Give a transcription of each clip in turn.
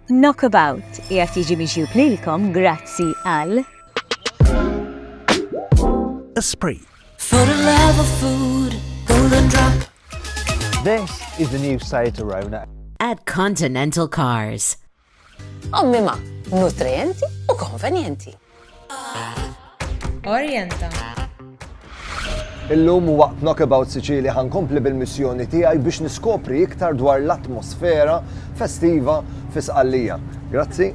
Knockabout qiegħed jiġi miġjub lilkom grazzi għal. Esprit. For the love of food, golden drop. This is the new Seat Arona. At Continental Cars. Ommima, nutrienti u konvenjenti. Orjenta. Illum waqt Knockabout Sicilia ħa nkompli bil-missjoni tiegħi biex niskopri iktar dwar l-atmosfera festiva fi Sqallija. Grazzi.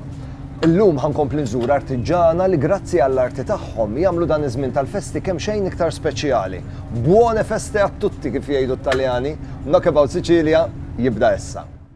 Illum ħa nkompli nżur artiġana li grazzi għall-arti tagħhom jagħmlu dan iż-żmien tal-festi kemm xejn iktar speċjali. Buone feste a tutti kif jgħidu t-Taljani, Knockabout Sicilia jibda issa.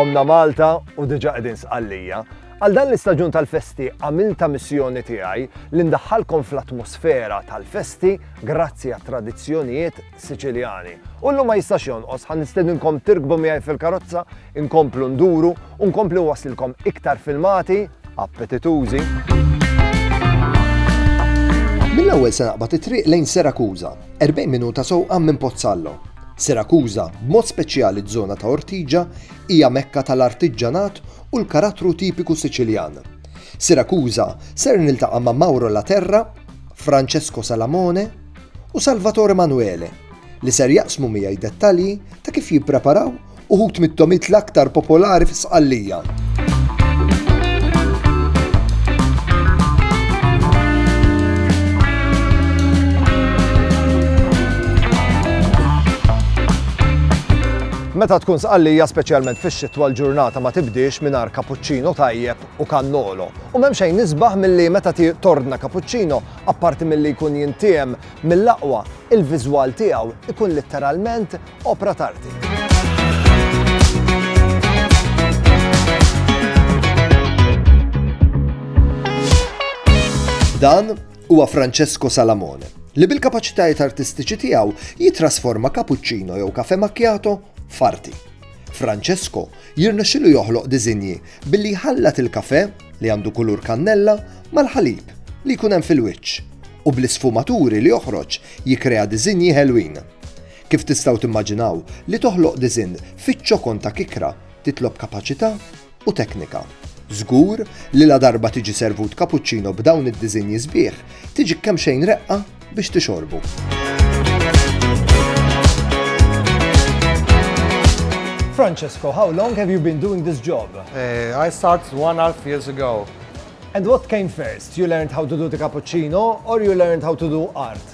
Omna Malta u diġa qegħdin sqallija. Għal dan l-istaġun tal-festi għamilta missjoni tiegħi li ndaħħalkom fl-atmosfera tal-festi grazzi għat tradizzjonijiet Siċiljani. U llum ma jistax jonqos ħan nistedinkom tirkbu miegħi fil-karozza, inkomplu nduru u nkomplu wasilkom iktar filmati appetitużi. Mill-ewwel se naqbad it-triq lejn Serakuża, 40 minuta sewqa minn Pozzallo. Sirakuża, b'mod speċjali ż-żona ta' Ortigia, hija mekka tal-artiġġanat u l-karattru tipiku Siċiljan. Sirakuża ser niltaqa' ma' Mauro Laterra, Francesco Salamone u Salvatore Manuele li ser jaqsmu miegħi dettalji ta' kif jippreparaw Uħud mit-tomit l-aktar popolari fi Sqallija. Meta tkun sqallija speċjalment fix-xitwa l-ġurnata ma tibdiex mingħajr kapuċċino tajjeb u kannolo. U m'hemm xejn nisbaħ milli meta tordna kapuċċino apparti milli jkun jintiem mill-aqwa, il-viżwal tiegħu ikun litteralment Opra t'arti. Dan huwa Francesco Salamone, li bil-kapaċitajiet artistiċi tiegħu jitrasforma cappuccino jew kafe macchiato f'arti. Francesco jirnexxilu joħloq diżinji billi jħallat il-kafe li għandu kulur kannella mal-ħalib li jkun hemm fil-wiċċ u bl-isfumaturi li joħroġ jikrea diżinji ħelwin. Kif tistgħu timmaġinaw, li toħloq diżinn fiċ-ċokon ta' kikra titlob kapaċità u teknika. Żgur li ladarba tiġi servut kapuċċino b'dawn id-diżinji sbieħ, tiġik kemxejn reqqa biex tixorbu. Francesco, how long have you been doing this job? I started one and a half years ago. And what came first, you learned how to do the cappuccino or you learned how to do art?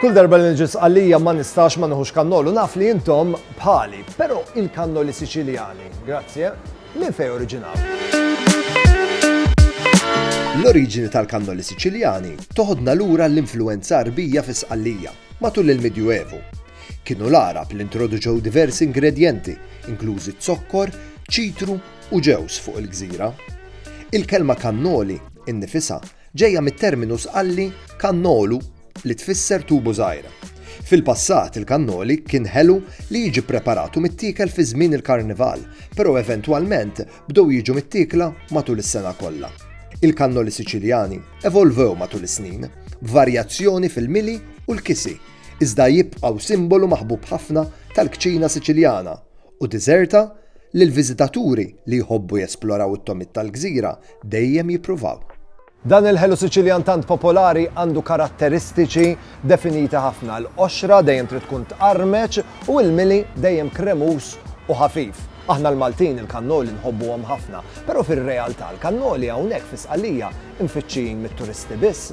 Kull darba li nġis għalija ma nistax ma nħux kannolu, naf li jintom bħali, pero il-kannoli siċiljani, grazie, minn fej oriġinal. L-oriġini tal-kannoli siċiljani toħodna lura l-influenza arbija fis-qallija matul il-Medjuevu. Kienu l-Għarab li introduċew diversi ingredjenti, inklużi z-zokkor, ċitru u ġewż fuq il-gżira. Il-kelma kannoli, innifisha, ġejja mit-terminu Sqalli kannolu li tfisser tubu żgħir. Fil-passat il-kannoli kien ħelu li jiġi ppreparat u mittiekel fi żmien il-Karnival, però eventwalment bdew jiġu mittiekla matul is-sena kollha. Il-kannoli Siċiljani evolvew matul is-snin, b'varjazzjoni fil-mili u l-kisi. iżda jibqgħu simbolu maħbub ħafna tal-kċina Siċiljana u diżerta li l-viżitaturi li jħobbu jesploraw it-tomid tal-gżira dejjem jippruvaw. Dan il-ħelu Siċiljan tant popolari għandu karatteristiċi definiti ħafna, l-qoxra dejjem trid tkun tqarmeċ u l-mili dejjem kremuż u ħafif. Aħna l-Maltin il-kannoli nħobbuhom ħafna, però fir-realtà l-kannoli hawnhekk fi Sqallija mfittxijin mit-turisti biss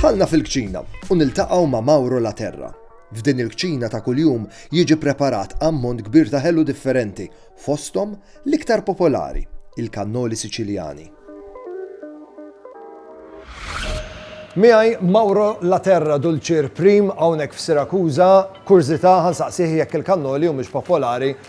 Dħalna fil-kċina u niltaqgħu ma' Mauro La Terra. F'din il-kċina ta' kuljum jiġi preparat ammont kbir ta' ħelu differenti, fostom l-iktar popolari, il-kannoli Siċiljani. Miħaj Mauro La Terra Dulċir Prim hawnhekk f'Sirakuża, kurzita ħansaqsih jekk il-kannoli u mhux popolari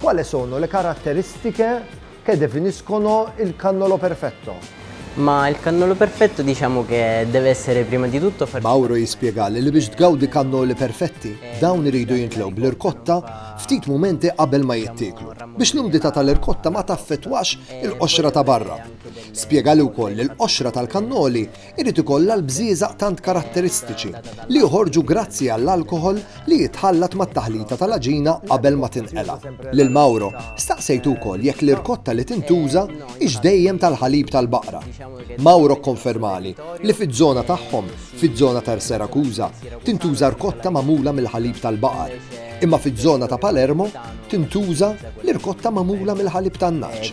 Quale sono le caratteristiche che definiscono il cannolo perfetto? Ma il cannolo perfetto diciamo che deve essere prima di tutto farcito. Mauro jispjegali li biex tgawdi kannoli perfetti, dawn iridu jintlew bl-irkotta ftit mumenti qabel ma jittieklu, biex l-umdità tal-irkotta ma taffettwax il-qoxra ta' barra. Spjegali wkoll li l-qoxra tal-kannoli irid ikollha l-bżieżaq tant karatteristiċi li joħorġu grazzi għall-alkoħol li jitħallat mat-taħlita tal-għaġina qabel ma tinqela'. Lil Mauro staqsejtu wkoll jekk l-irkotta li tintuża hix dejjem tal-ħalib tal-baqra. Mauro kkonfermali li fiż-żona tagħhom, fiż-żona ta' Erserakuża, tintuża rkotta magħmula mill-ħalib tal-baqar, imma fiż-żona ta' Palermo tintuża l-irkotta magħmula mill-ħalib tan-nagħaġ.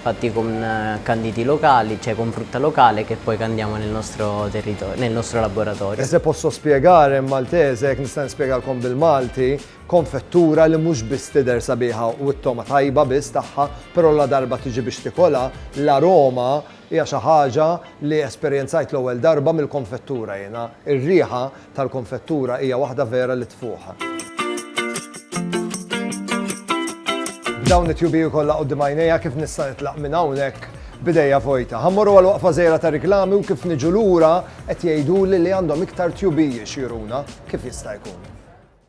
fatti con canditi locali, cioè con frutta locale che poi candiamo nel nostro territorio, nel nostro laboratorio. E se posso spiegare in maltese, jekk nista' nispjegalkom bil-Malti, konfettura li mhux biss tidher sabiħa u t-togħma tajba biss tagħha, però ladarba tiġi biex tikolha, l-aroma hija xi ħaġa li esperjenzajt l-ewwel darba mill-konfettura jiena. Ir-riħa tal-konfettura hija waħda vera li tfuħ. B'dawn it-tjubiju kollha quddiem għajnejja kif nista' nitlaq minn hawnhekk b'idejja vojta. Ħa mmorru għal waqfa żgħira ta' riklami u kif niġu lura qed jgħiduli li għandhom iktar tjubiji xi juruna kif jista' jkun.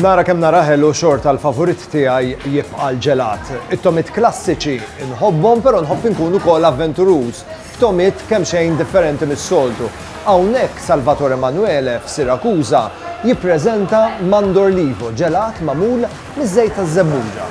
Nara kemm nara ħelu xort tal favorit tiegħi jibqa' l-ġelat. It-tomit klassiċi nħobbhom però nħobb inkun ukoll avventuruż. Tomit kemm xejn differenti mis-soltu. Hawnhekk Salvatore Emanuele f'Sirakuża jippreżenta Mandorlivo ġelat magħmul miż-żejt taż-żebbuġa.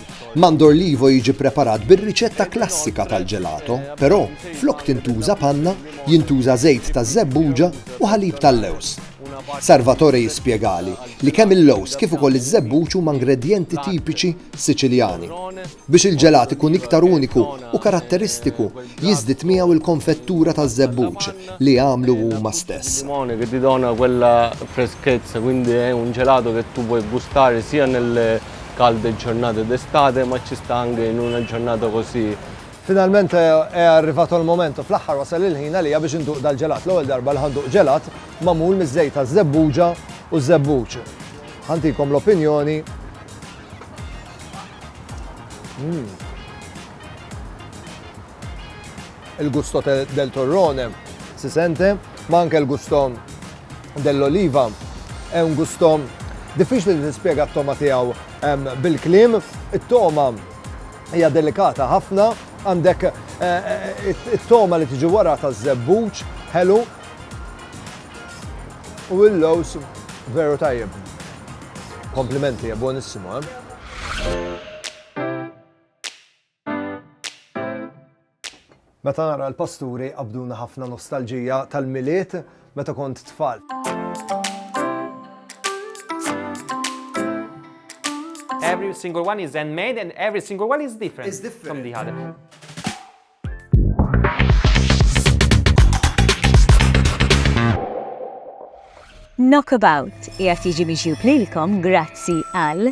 Mandor Livo jiġi preparat bir-riċetta klassika tal-ġelato, però flok tintuża panna, jintuża żejt taż-żebbuġa u ħalib tal-lewż. Sarvatore jispjegali li kemm il-lewż kif ukoll iż-żebbuġ huma ngredjenti tipiċi Siċiljani. Biex il-ġelat ikun iktar uniku u karatteristiku, jiżdied miegħu l-konfettura taż-żebbuġ li jagħmlu huma stess. calde giornate d'estate, ma ci sta anche in una giornata così. Finalment è arrivato il momento, fl-aħħar wasal il-ħin għalija biex induq dal-ġelat, l-ewwel darba li ħa nduq ġelat magħmul miż-żejt taż-żebbuġa u ż-żebbuġ. Ħa ntikom l-opinjoni. Mmm. il-gusto del torrone si sente, ma anke l-gusto dell'oliva. È un gusto diffiċli li tispjega t-togħma tiegħu bil-kliem. It-togħma hija delikata ħafna, għandek it-togħma li tiġi wara taż-żebbuġ ħelu u l-lows veru tajjeb. Komplimenti, è buonissimo, eh? Meta nara l-pasturi qabduna ħafna nostalġija tal-Milied meta kont tfal. Every single one is handmade and every single one is different, is different. from the other. Knockabout, jgħat jiġi miġjub lilkom grazzi għal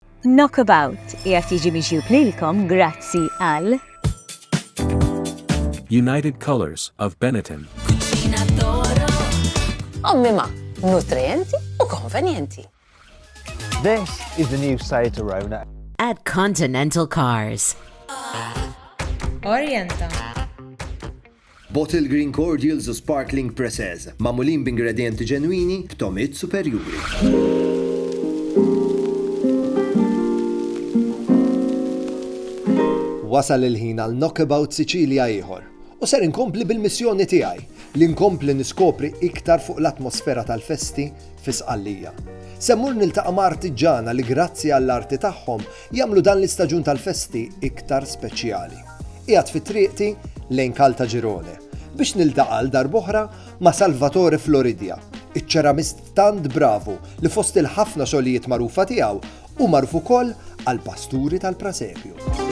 Knockabout qiegħed jiġi miġjub lilkom grazzi għal. United Colours of Benetton. Cucina d'Oro. Ommi ma, nutrienti u konvenjenti. This is the new Seat Arona. At Continental Cars. Orienta. Bottled Green Cordials u Sparkling Preces, magħmulin b'ingredjenti ġenwini b'togħmiet superjuri. Wasal il-ħin għal Knockabout Sicilia ieħor, u ser inkompli bil-missjoni tiegħi li nkompli niskopri iktar fuq l-atmosfera tal-festi fi Sqallija. Se mmur niltaqa' ma' artiġġana li grazzi għall-arti tagħhom Jagħmlu dan l-istaġun tal-festi iktar speċjali. Qiegħed fi triqti lejn Caltagirone biex niltaqa' għal darb'oħra ma' Salvatore Floridia, iċ-ċeramist tant bravu li fost il-ħafna xogħlijiet magħrufa tiegħu hu magħruf ukoll għall-pasturi tal-Prasepju.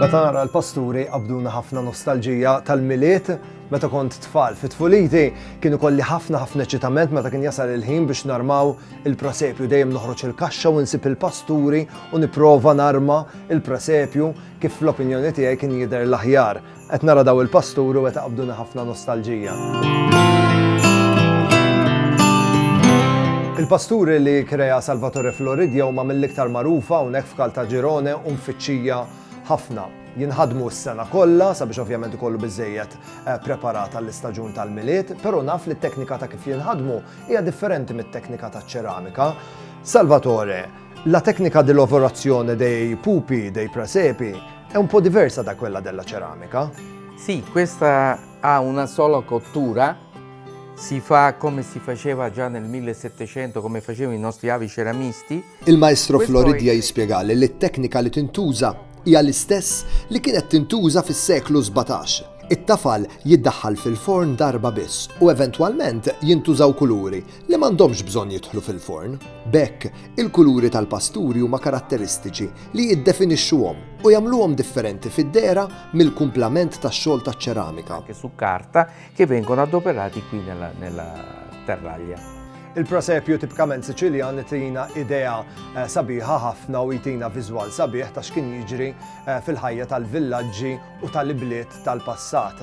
Meta nara l-pasturi qabduna ħafna nostalġija tal-milied, meta kont tfal fit tfuliti kienu kolli ħafna ħafna ċitament meta kien jasal il-ħin biex narmaw il-prasepju dejjem noħroġ il-kaxxa u nsib il-pasturi u niprova narma il-prasepju kif fl-opinjoni tiegħi kien jidher l-aħjar Qed nara daw il-pasturi u qed iqabduni ħafna nostalġija. Il-pasturi li kreja Salvatore Floridia huma mill-iktar magħrufa hawnhekk f'Kaltaġirone u mfittxija ħafna. Jinħadmu s-sena kollha sabiex ovvjament ikollu biżejjed eh, preparat għall-istaġun tal-milied, però naf li t-teknika ta' kif jinħadmu hija differenti mit-teknika taċ-ċeramika. Salvatore, La tecnica di lavorazione dei pupi dei presepi è un po' diversa da quella della ceramica. Sì, questa ha una sola cottura, si fa come si faceva già nel 1700, come facevano i nostri avi ceramisti. Il-Maestro Floridia jispjegali li t-teknika li tintuża hija l-istess li kienet tintuża fis-seklu 17. It-tafal jiddaħħal fil-forn darba biss u eventwalment jintużaw kuluri li m'għandhomx bżonn jidħlu fil-forn. B'hekk, il-kuluri tal-pasturi huma karatteristiċi li jiddefinixxuhom u jagħmluhom differenti fid-dehra mill-kumplament tax-xogħol taċ-ċeramika. anche su carta, che vengono adoperati qui nella, nella terraglia. Il-prosepju tipkament Siċiljan itina idea eh, sabiħa ħafna u jtina viżwal sabiħ ta' x'kien jiġri eh, fil-ħajja tal-villaġġi u tal-ibliet tal-passat.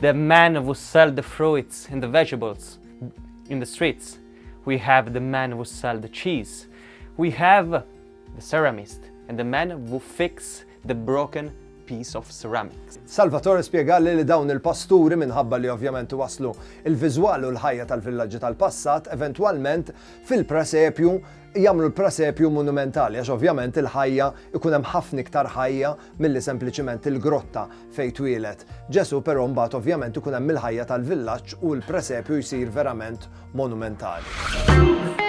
The man who sell the fruits and the vegetables in the streets. We have the man who sell the cheese. We have the ceramist and the man who fix the broken piece of ceramics. Salvatore spjegali li dawn il-pasturi minħabba li ovvjament waslu il-viżwal u l-ħajja tal-villaġġi tal-passat eventwalment fil-presepju jagħmlu l-Prasepju monumentali għax ovvjament il-ħajja ikun hemm ħafna iktar ħajja milli sempliċiment il-grotta fejn twieled Ġesù però mbagħad ovvjament ikun hemm il-ħajja tal-villaġġ u l-Prasepju jsir verament monumentali.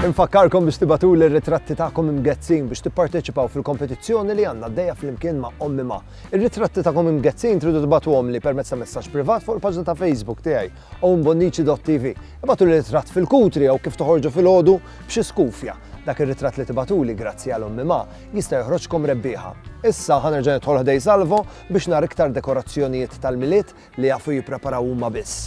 Infakkarkom biex tibatu l-ritratti ta'kom imgezzin biex tipparteċipaw fil-kompetizzjoni li għanna d-deja fl-imkien ma' ommi ma' Ir-ritratti tagħkom imgezzin tridu tibagħtuhomli permezz ta' messaġġ privat fuq il-paġna ta' Facebook tiegħi owenbonnici.tv. Ibagħtu li ritratt fil-kutri jew kif toħorġu filgħodu b'xi skufja. Dak ir-ritratt li tibagħtuli grazzi għal Ommi Ma jista' joħroġkom rebbieħa. Issa ħa nerġa' nidħol ħdej Salvo biex nara iktar dekorazzjonijiet tal-Milied li jafu jippreparaw huma biss.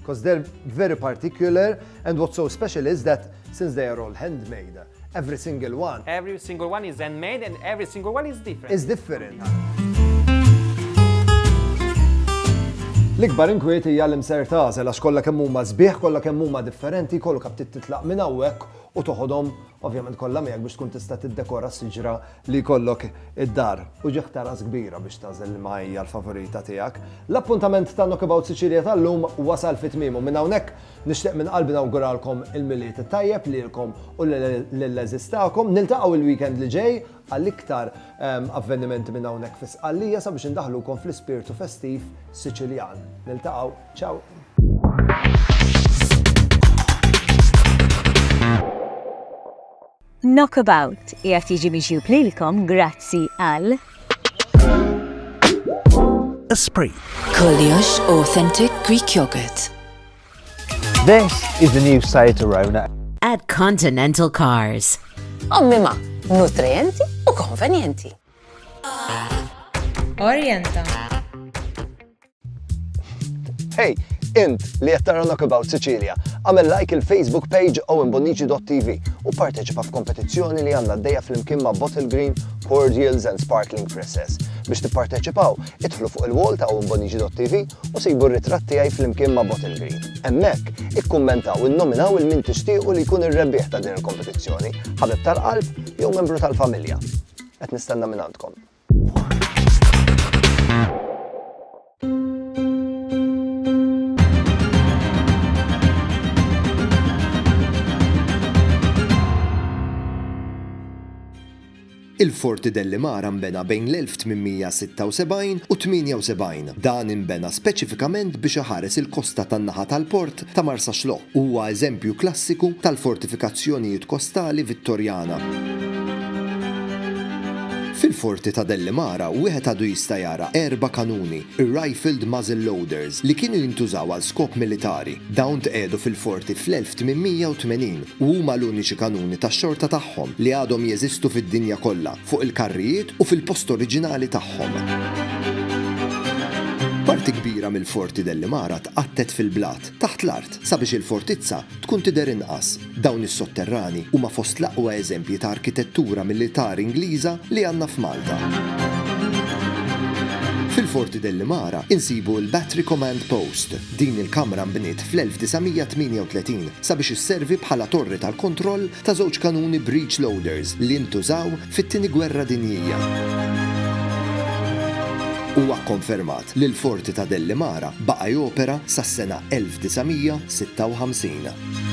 Because they're very particular and what's so special is that since they are all handmade, every single one. Every single one is handmade and every single one is different. Is different. L-ikbar inkwiet hija l-imser tażel għax kollha kemm huma sbieħ, kollha kemm huma differenti, kollu kap titlaq minn hawnhekk u toħodhom ovvjament kollha miegħek biex tkun tista' tiddekora s-siġra li jkollok id-dar u ġieħ ta' ras kbira biex tagħżel liema hija l-favorita tiegħek. L-appuntament ta' Knockabout Sicilia tal-lum wasal fi tmiemu. Minn hawnhekk nixtieq minn qalbi nawguralkom il-Milied it-tajjeb lilkom u lill-għeżież tagħkom. Niltaqgħu il-weekend li ġej għal iktar avvenimenti minn hawnhekk fi Sqallija sabiex indaħħlukom fl-ispirtu festiv Siċiljan. Niltaqgħu. Ciao! Knockabout qiegħed jiġi miġjub lilkom grazzi għal. Esprit. Kollox authentic Greek yogurt. This is the new Seat Arona. At Continental Cars. Ommima, nutrienti u konvenjenti. Orienta. Hey, int li qed tara Knockabout Sicilia, għamel like il-Facebook page owenbonnici.tv u parteċipa f'kompetizzjoni li għandna d-dejja fl-imkien ma' Bottle Green, Cordials and Sparkling Presses. Biex tipparteċipaw, idħlu fuq il-wall ta' owenbonnici.tv u sejbu r-ritratt tiegħi fl-imkien ma' Bottle Green. Hemmhekk, ikkummentaw innominaw il min tixtiequ li jkun ir-rebbieħ ta' din il-kompetizzjoni, ħabib tal-qalb jew membru tal-familja. Qed nistenna minn għandkom. Il-Forti Dellimara nbena bejn l-1876 u 78. Dan inbena speċifikament biex iħares il-kosta tan-naħa tal-port ta' Marsaxlokk huwa eżempju klassiku tal-fortifikazzjonijiet kostali Vittorjana. Fil-Forti ta' Dellimara wieħed għadu jista' jara erba' kanuni, ir-rifled muzzle loaders, li kienu jintużaw għal skop militari. Dawn tqiegħdu fil-Forti fl-1880 u huma l-uniċi kanuni tax-xorta tagħhom li għadhom jeżistu fid-dinja kollha. fuq il-karrijiet u fil-post oriġinali tagħhom. Parti kbira mill-forti dell-Imara tqattet fil-blat, taħt l-art, sabiex il-fortizza tkun tidher inqas. Dawn is-sotterrani huma fost l-aqwa eżempji ta' arkitettura militari Ingliża li għandna f'Malta. Fil-forti dell-Imara insibu l-Battery Command Post. Din il-kamra nbniet fl-1938 sabiex isservi bħala torri tal-kontroll ta' żewġ kanuni breech loaders li ntużaw fit-Tieni Gwerra Dinjija. Huwa kkonfermat li l-Forti ta' Dellimara baqa' jopera sas-sena 1956.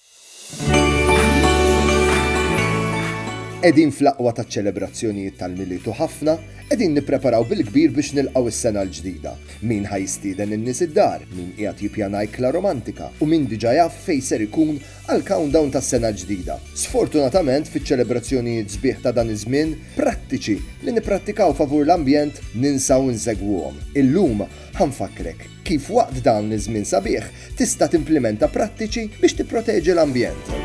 Qegħdin fl-aqwa taċ-ċelebrazzjonijiet tal-Milied u ħafna qegħdin nippreparaw bil-kbir biex nilqgħu s-sena l-ġdida. Min ħa jistieden in-nies id-dar, min qiegħed jippjana ikla romantika u min diġà jaf fejn ser ikun għall-countdown tas-sena l-ġdida. Sfortunatament, fiċ-ċelebrazzjonijiet sbieħ ta' dan iż-żmien, prattiċi li nipprattikaw favur l-ambjent ninsaw insegwuhom. Illum ħa nfakkrek. Kif waqt dan iż-żmien sabiħ tista' timplimenta prattiċi biex tipproteġi l-ambjent?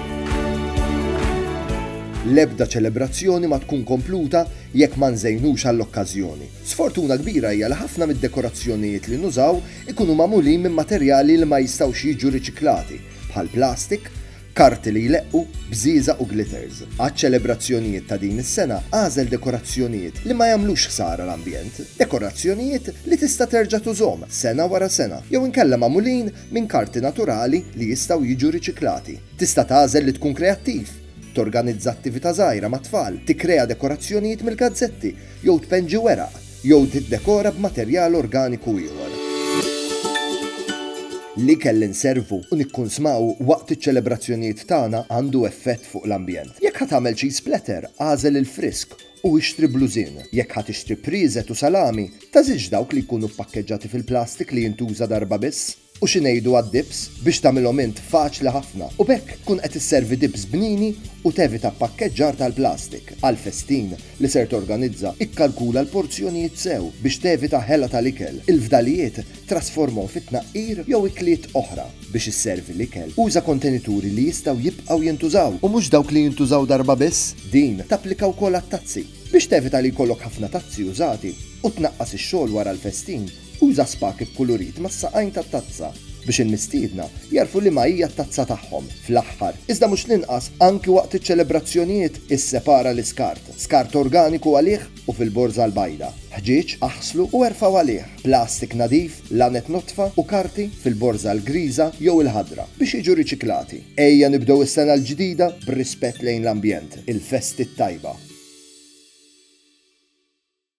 L-ebda ċelebrazzjoni ma tkun kompluta jekk ma nżejnux għall-okkażjoni. Sfortuna kbira hija li ħafna mid-dekorazzjonijiet li nużaw ikunu magħmulin minn materjali li ma jistgħux jiġu riċiklati, bħall-plastik, Karti li jleqqu bżieżaq u glitters. Għaċ-ċelebrazzjonijiet ta' din is-sena agħżel dekorazzjonijiet li ma jagħmlux ħsara l-ambjent. Dekorazzjonijiet li tista' terġa' tużhom sena wara sena jew inkella magħmulin minn karti naturali li jistgħu jiġu riċiklati. Tista' tagħżel li tkun kreattiv, torganizza attività żgħira mat-tfal, tikkrea dekorazzjonijiet mill-gazzetti jew tpenġi weraq. jew tiddekora b'materjal organiku ieħor. L-ikel li nservu u nikkunsmaw waqt iċ-ċelebrazzjonijiet tagħna għandu effett fuq l-ambjent. Jekk ħa tagħmel cheese splatter, agħżel il-frisk u ixtri blużin. Jekk ħa tixtri prieżet u salami, teżilx dawk li jkunu ppakkeġġati fil-plastik li jintuża darba biss. U xi ngħidu għad-dips biex tagħmilhom int faċli ħafna u b'hekk tkun qed isservi dips bnini u tevita ppakkeġġar tal-plastik. Għall-festin li ser torganizza, ikkalkula l-porzjonijiet sew biex tevita ħela tal-ikel. Il-fdalijiet trasformhom fi tnaqqir jew ikliet oħra. Biex isservi l-ikel, uża kontenituri li jistgħu jibqgħu jintużaw u mhux dawk li jintużaw darba biss. Din tapplika wkoll għat-tazzi. Biex tevita li jkollok ħafna tazzi użati u tnaqqas ix-xogħol wara l-festin, Uża spak ikkulurit mas-saqajn tat-tazza biex il-mistiedna jagħrfu liema hija t-tazza tagħhom. Fl-aħħar, iżda mhux l-inqas, anki waqt iċ-ċelebrazzjonijiet, issepara l-iskart, skart organiku għalih u fil-borża l-bajda, ħġieġ, aħslu u erfgħu għalih, plastik nadif, laned nodfa u karti fil-borża l-griża jew il-ħadra, biex jiġu riċiklati. Ejja nibdew is-sena l-ġdida b'rispett lejn l-ambjent. Il-festi t-tajba!